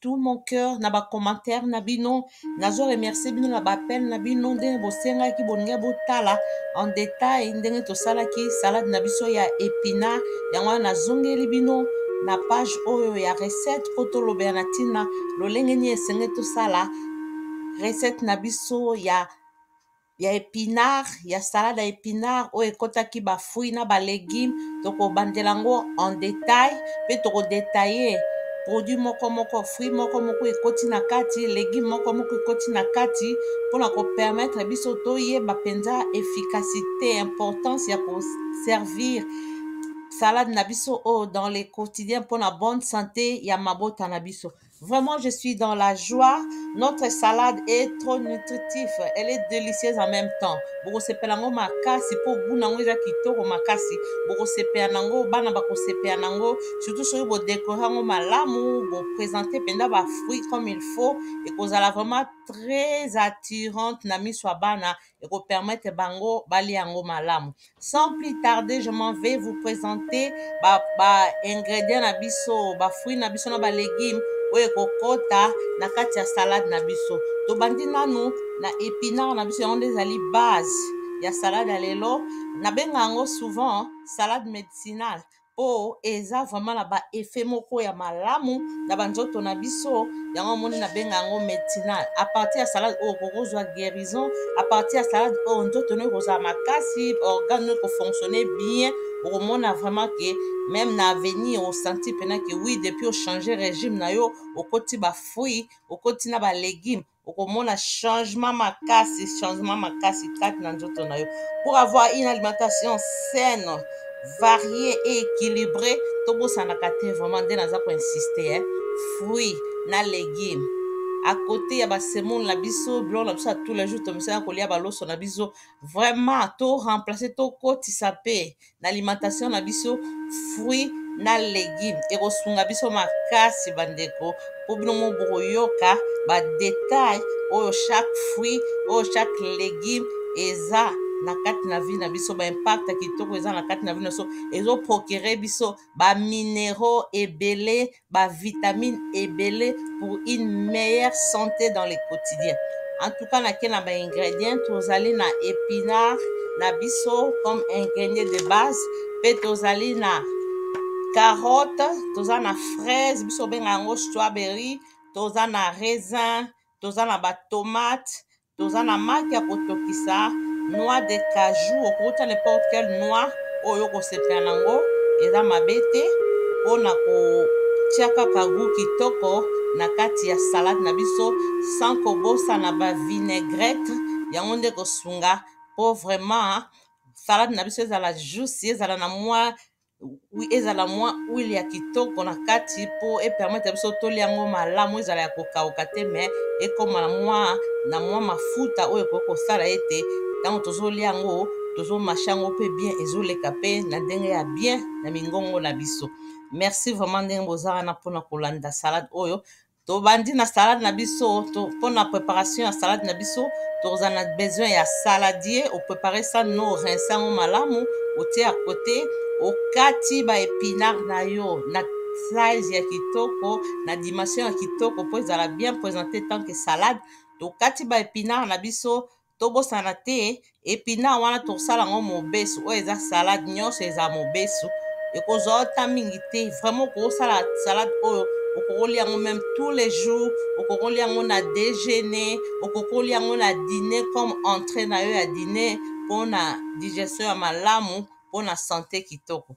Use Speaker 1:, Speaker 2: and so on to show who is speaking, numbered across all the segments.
Speaker 1: tout mon cœur na ba commentaire na bino nazo remercier bino na ba appel na bino ndenge bosengaki bolingi botala en détail ndenge tosalaki salade na biso ya epinard yango wana nazongeli bino na page oyo ya recette mpo tolobela na ntina lolenge nini esengeli tosala recette na biso ya ya epinard ya salade ya epinard oyo ekotaki ba fruits na ba legumes tokobandela yango en detail mpe tokodetaille produit moko moko fruit moko moko ekoti na kati legume moko moko ekoti na kati mpo na kopermettre biso toyeba mpenza efficacité importance ya koservir salade na biso oyo dans le quotidien mpo na bonne santé ya mabota na biso Vraiment, je suis dans la joie. Notre salade est trop nutritive. Elle est délicieuse en même temps. bokosepela yango makasi mpo goût nango eza kitoko makasi bokosepela nango bana bakosepela nango surtout soki bodekore yango malamu bopresente mpenza bafruit comme il faut ekozala vraiment très attirante na miso ya bana et qu'on permette bango bali yango malamu sans plus tarder je m'en vais vous présenter ba, ba ingrédients na biso ba fruits na biso na ba légumes oyo ekokota na kati ya salade na biso tobandi nanu na épinard na biso yango nde ezali base ya salade ya lelo nabenga yango souvent salade médicinale po eza vraiment na ba effet moko ya malamu na ba nzoto na biso yango omoni na benga yango metinal a partir ya salade oyo okoki kozwa guérison a partir ya salade oyo nzoto no ekozala makasi organe no ekofonctionne bien okomona vraiment ke meme na avenir osanti mpena ke oui depuis ochange régime na yo okoti ba fruit okoti na ba légume okomona changement makasi changement makasi kati na nzoto na yo pour avoir une alimentation saine variée et équilibrée tobosanaka te vraiment nde naza koinsiste eh? fruit na légume à côté ya basemoule na biso biloko na biso ya tous les jours tomisana kolia baloso na biso vraiment to remplace tokotisa mpe na alimentation na biso fruit na legume ekosunga biso makasi bandeko mpo bino mo bokoyoka badetail oyo chaque fruit oyo chaque legume eza na kati na vie na biso baimpact kitoko eza na kati na vie na biso ezoprocure biso bamineraux ebele ba vitamine ebele pour une meilleure santé dans le quotidien en tout cas nake na ba ingrédients tozali na épinard na biso comme ingrédient de base mpe tozali na carotte toza na fraise biso obenga yango strawberry toza na raisin toza na batomate Toza na marque ya kotokisa noix de cajou okoki tia n'importe quel noix oyo okosepela na ngo eza mabe te pona ko tia kaka gout kitoko na kati ya salade na biso sans kobosana ba vinaigrettes yango nde ekosunga po vraiment salade na biso ezala juicy ezala na mua wi ezala mwa huile ya kitoko na kati mpo epermettre biso tolia yango malamu ezala ya kokauka te me ekoma mwa na mwa mafuta oyo ekoki kosala ete ntango tozolia yango tozomashe yango mpe bien ezoleka mpe na ndenge ya bien na mingongo na biso merci vraiment ndenge boza wana mpona kolanda salade oyo tobandi na salade na biso to, mpo na préparation ya salade na biso tokozala na besoin ya saladier oprépare sa no rince yango malamu otie ya kote okati baepinard na yo na size ya kitoko na dimension ya kitoko mpo ezala bien présente tant que salade tokati baepinard na biso tobosana te epina wana tosala yango mobesu oyo eza salade nyonso eza mobesu ekozwa ota mingi te vraiment okosala salade oyo okokoli yango meme tous les jours okokoli yango na déjeuner okokoli yango na dîner comme entrée na yo ya dîner mpo na digestion ya malamu mpo na sante kitoko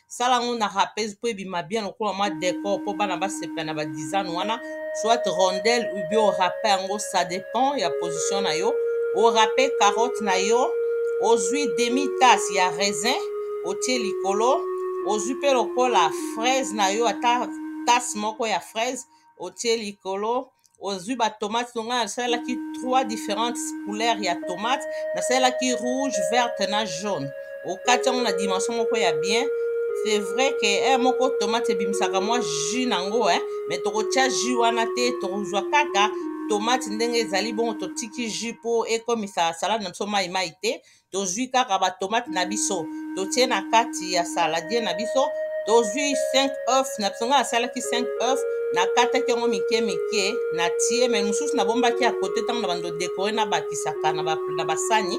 Speaker 1: sala yango na rapese mpo ebima bien lokola mwa decor mpo bana basepela na badizane wana soit rondel ubi orape yango ça dépend ya position na yo orape carotte na yo ozwi demi tasse ya raisin otie likolo ozwi mpe lokola fraise na yo ata tasse moko ya fraise otie likolo ozwi batomate no ngai nasalelaki trois différentes couleur ya tomate nasalelaki rouge verte na jaune okati yango na dimension moko ya bien c'est vrai que heure moko tomate ebimisaka mwa jus nango eh, mais tokotya jus wana te tokozwa kaka tomate ndenge ezali bongo totiki jus mpo ekomisa salade na biso mai mai te tozwi kaka ba tomate na biso totie na kati ya saladie na biso tozwi 5 oeuf na biso ngai nasalaki 5 oeuf nakataki yango mike mike na tie mai mosusu nabombaki ya kote ntango na bando dekore na bakisaka na basani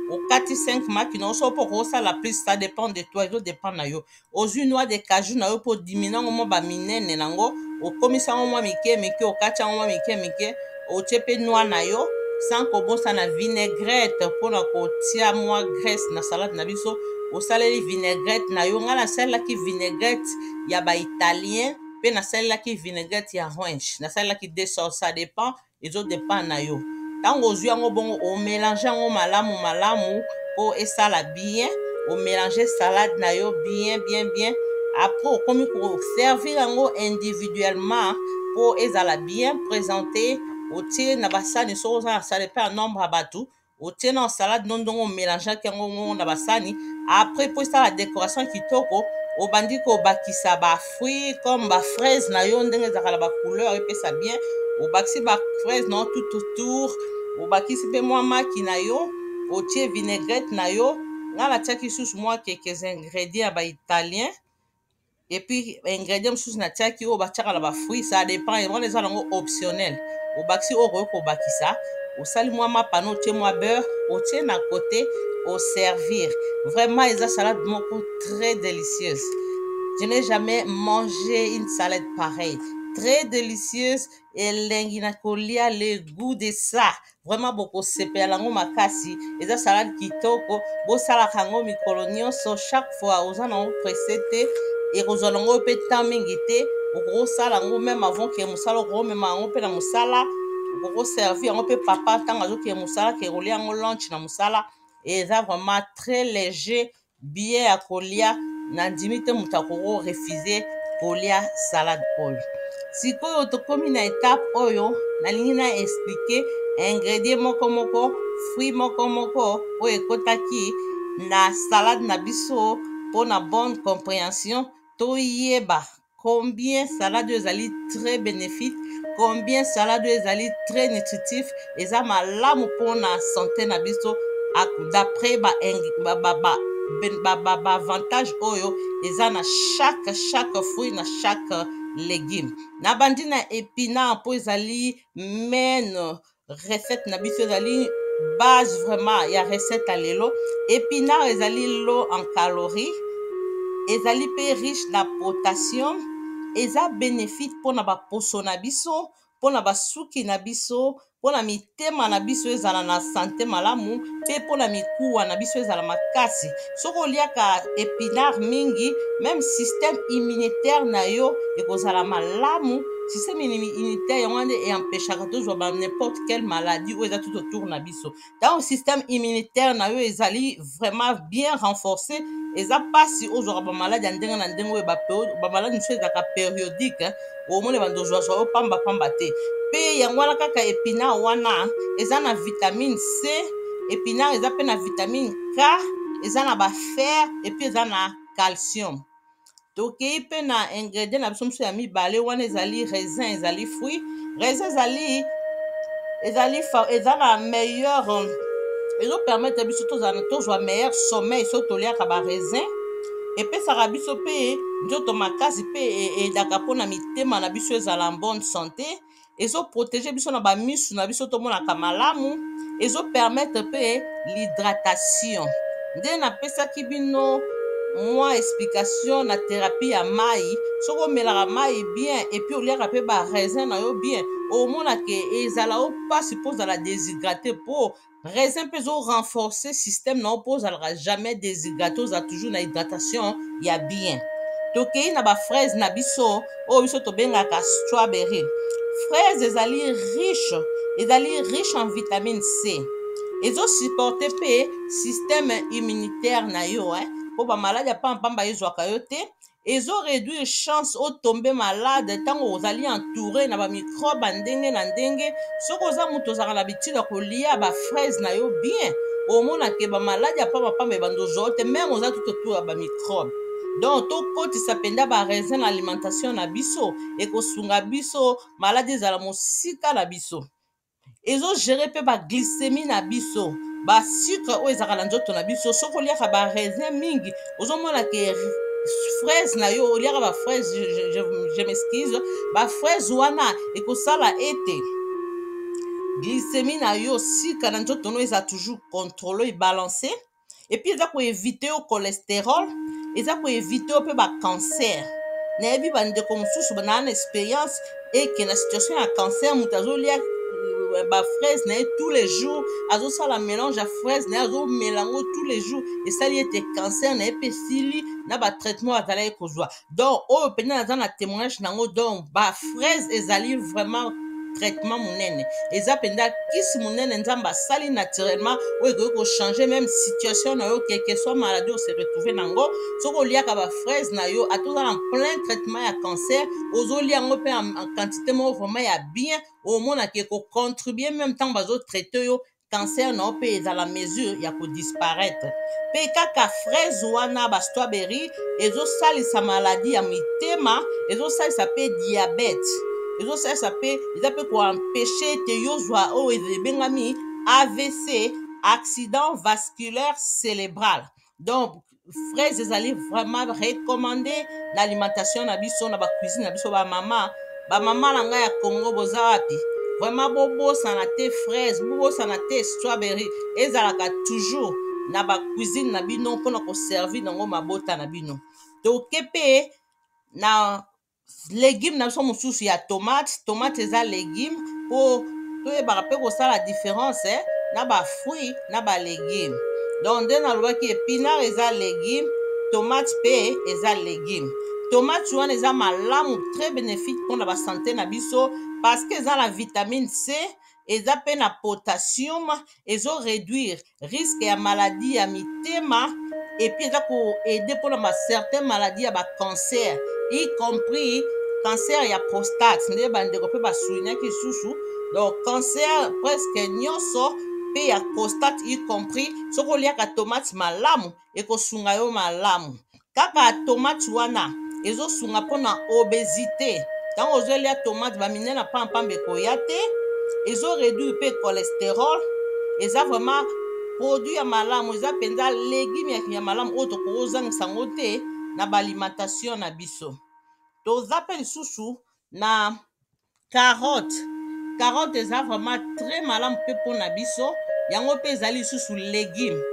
Speaker 1: okati 5 maki na oso mpo okosala plus ça dépend de toi ezo dépend na yo ozwi noix de cajou na yo mpo odimi nango mwa baminene nango okomisi yango mwa mike mike okati yango mwa mike mike otie mpe noix na yo sans kobosana vinaigrette mpo na kotia mwa graisse na salade na biso osaleli vinaigrette na yo ngai nasalelaki vinaigrette ya baitalien mpe nasalelaki vinaigrette ya ranch nasalelaki deux sorte ça dépend Ezo depend na yo tango ozui yango bongo o melange yango malamu malamu po esala bien o melange salade na yo bien bien bien après okomi ko servir yango individuellement po ezala bien presente otie na ba sani soki oza na sani pe ya nombre ya batu otie na salade no ndongo omelangeaki yango ngongo na basani après mpo esala décoration kitoko obandi kobakisa bafruit comme bafraise na yo ndenge ezalaka na bacouleur epesa bien obakisi bafraise na yo tout autour obakisi mpe mwa maki na yo otie vinaigrette na yo ngai natiaki lisusu mwa quelques ingrédients ya baitalien et puis ingrédient mosusu natiaki oyo batiaka na bafruit ça dépend yango wana eza nango optionnel obakisi oyo okoki kobakisa osali mwa mapano otie mwa beurre otie na kote oservir vraiment eza salade moko très délicieuse je n'ai jamais mangé une salade pareille très délicieuse elengi na kolia le goût de ça vraiment bokosepela nango makasi eza salade kitoko bosalaka yango mikolo nyonso chaque fois oza nango presse te ekozwa nango mpe temps mingi te okokosala yango meme avant ke mosala okomema yango mpe na mosala okokoservi yango mpe papa ntango azokee mosala ke kolia yango lunch na mosala eza vraiment très léger billet ya kolia nandimi te moto akoko refuse kolia salade oyo sikoyo tokomi na etape oyo nalingi na explike ingredient moko moko fruit moko moko oyo ekotaki na salade na biso mpo na bonne comprehension toyeba combien salade ezali très bénéfique combien salade ezali très nutritif eza malamu mpona sante na biso d'après baavantage oyo eza na chaque chaque fruit na chaque légume nabandi na epina mpo ezali maine recette na biso ezali base vraiment ya recette ya lelo epinard ezali low en calorie ezali mpe riche na potassium eza bénéfique mpo na baposo na biso mpo na basuki na biso mpo na mitema na biso ezala na sante malamu mpe mpo na mikuwa na biso ezala makasi soki oliaka epinard mingi meme système immunitaire na yo ekozala malamu système immunitaire yango wana eempeshaka tozwa ba n'importe quelle maladie oyo eza tout autour na biso ntango système immunitaire na yo ezali vraiment bien renforcé eza mpasi ozwaka bamaladi ya ndenge na ndenge oyo bamaladi mosusu ezalaka périodique omoni bando ozwazwa yo pamba pamba te mpe yango wana kaka epina wana eza na vitamine c epinard eza mpe na vitamine k eza na bafer epuis eza na calcium tokei mpe na ingredient na biso mosusu ya mibale wana ezali raisin ezali fruit raisin ezali ezali eza na meilleur ezopermettre biso tozala tozwa meilleur sommeil soki toliaka baraisin epesaka biso mpe nzoto makasi mpe edaka mpo na mitema na biso ezala en bonne sante ezoprotege biso na bamisu na biso tomonaka malamu ezopermetre mpe l'hydratation nde napesaki bino mwa explication na therapie ya mai soki omelaka mai bien epuis oliaka mpe baraisin na yo bien omona ke ezala o mpasi mpo ozala deshydrate mpo raisin mpe ezo renforcer système na yo mpo ozalaka jamais déshydraté oza toujours na hydratation ya bien tokei na bafraise na biso oyo biso tobengaka strawberry fraise ezali riche ezali riche en vitamine c ezosupporte mpe système immunitaire na yo eh? mpo bamaladi ya mpampamba ezwaka yo te ezo reduire chance o tombe malade ntango ozali entouré na ba microbe ya ndenge na ndenge soki oza moto ozalaka na habitude ya kolia ba fraise na yo bien omona ke ba maladi ya pamba pamba ebanda ozwa yo te meme oza tout autour ya ba microbe donc tokotisa mpenza ba raisin na alimentation na biso ekosunga biso maladi ezala mosika na biso ezo gere mpe ba glycemie na biso ba sucre oyo ezalaka na nzoto na biso soki oliaka ba raisin mingi ozomona ke fraise na yo oliaka ba fraise je, je, je, je m'excuse ba fraise wana ekosala ete glycemie na yo sucre na nzoto no eza toujours controle ebalancer epuis eza koevite yo cholesterol eza koevite yo mpe bacancer nayebi bandeko mosusu banaa na experience eke na situation ya cancer moto azolia euh, bafraise na ye tous les jours azosala mélange ya fraise na ye azomela yango tous les jours esali ete cancer na ye mpe esili na batraitement azalaki kozwa donc oyo mpenza naza na témoignage nango donc ba fraise ezali vraiment traitement monene eza mpenza kisi monene nzambe asali naturellement oyo ekoki kochange meme situation na yo quelque soit maladie ose retrouve na yango soki oliaka bafraise na yo ata oza na plein traitement ya cancer ozolia yango mpe en quantité moko vraiment ya bien omonaka ekocontribue meme ntango bazotraite yo cancer na yo mpe ezala mesure ya kodisparaître mpe kaka fraise wana ba strawberry ezosalisa maladi ya mitema ezosalisa mpe diabete ezosalisa mpe eza mpe koempeshe ete yo ozwa oyo ebengami avc accident vasculaire célébral donc fraise ezali vraiment recommande na alimentation na biso na bacuisine na biso bamama bamama na ngai ya congo boza wapi vraiment bobosana te fraise bobosana te strawberry ezalaka toujours na bacuisine na bino mpona koservir nango mabota na bino toke mpe na legume na biso mosusu ya tomate tomate eza legume mpo toyebaka mpe kosala différence eh, na bafruit na balegume donc nde nalobaki epinare eza legume tomate mpe eza legume tomate wana eza malamu très bénéfique mpona basante na biso parce que eza na vitamine c eza mpe na potassium ezo réduire risque ya maladie ya mitema epuis eza koaide mpona ba certain maladie ya bacancer y compris cancer ya prostate nde bandeko mpe basoulinaki lisusu donc cancer presque nyonso mpe ya prostate y compris soki oliaka tomate malamu ekosunga yo malamu kaka tomate wana ezosunga mpona obesité ntango ozolia tomate bamine na pampamba ekoya te ezo réduire mpe cholesterol eza vraiment produit ya malamu eza mpenza legume ya malamu oyo tokoki ozangisa yango te na baalimentation na biso toza mpe lisusu na carotte carotte eza vraiment très malamu mpe mpo na biso yango mpe ezali lisusu legume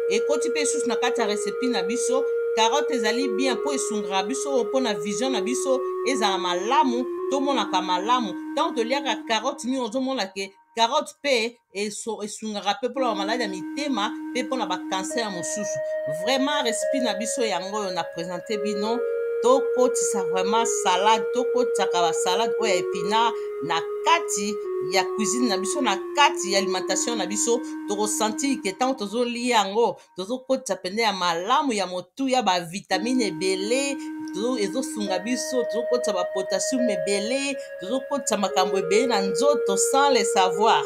Speaker 1: ekoti mpe lisusu na kati ya recipe na biso carotte ezali bien mpo esungaka biso mpo na vision na biso ezala malamu tomonaka malamu ntango toliaka carotte mingi ozomona ke carotte mpe esungaka mpe mpona bamaladi ya mitema mpe mpona bakanser mosusu vraiment recipe na biso yango oyo na presente bino tokotisa vraiment salade tokotisaka basalade oyo ya epinard na kati ya cuisine na biso na kati ya alimentation na biso tokosentir ke ntango tozolia yango tozokotisa mpenza ya malamu ya motuya bavitamine ebele ezosunga biso tozokotisa bapotassium ebele tozokotisa makambo ebele na nzoto sans le savoir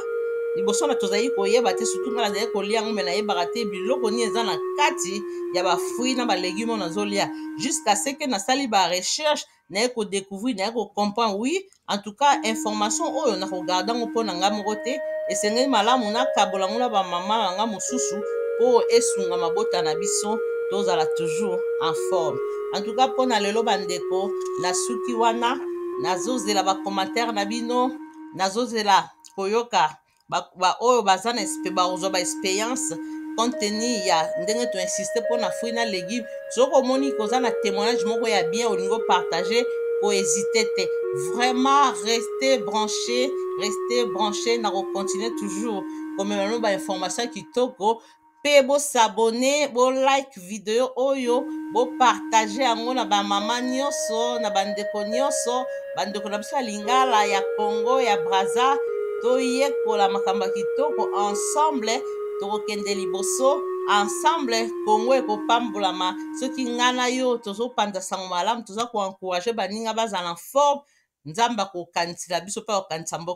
Speaker 1: liboso na tozali koyeba te sutu ngai nazali kolia yango me nayebaka te biloko nini eza na kati ya bafruit na balegume oyo nazolia jusqu'à ce que nasali barecherche naye ko decouvrir naye ko comprendre oui en tout cas information oyo na ko garder ngo pona nga moko te esengeli malamu na kabola ngo na ba mama na nga mosusu po esunga mabota na biso tozala toujours en forme en tout cas pona lelo ba ndeko na suki wana nazozela ba commentaire na bino nazozela koyoka baoyo ba baza na bakozwa ba experience compte tenu ya ndenge to insiste mpo na fruit na legume soki omoni koza na témoignage moko ya bien olingi opartage kohésite te vraiment reste branché reste branché na kocontinue toujours komema no bainformation kitoko pe bo s'abonner bo like video oyo bo partager yango na ba mama nioso na ba ndeko nioso ba ndeko na biso ya lingala ya Congo ya Brazza toyekola makambo ya kitoko ensemble tokokende liboso ensemble Congo ekopambolama soki nga na yo tozopanza sango malamu toza ko encourager baninga bazala en forme Nzambe akokanisela biso pe akokanisa mboka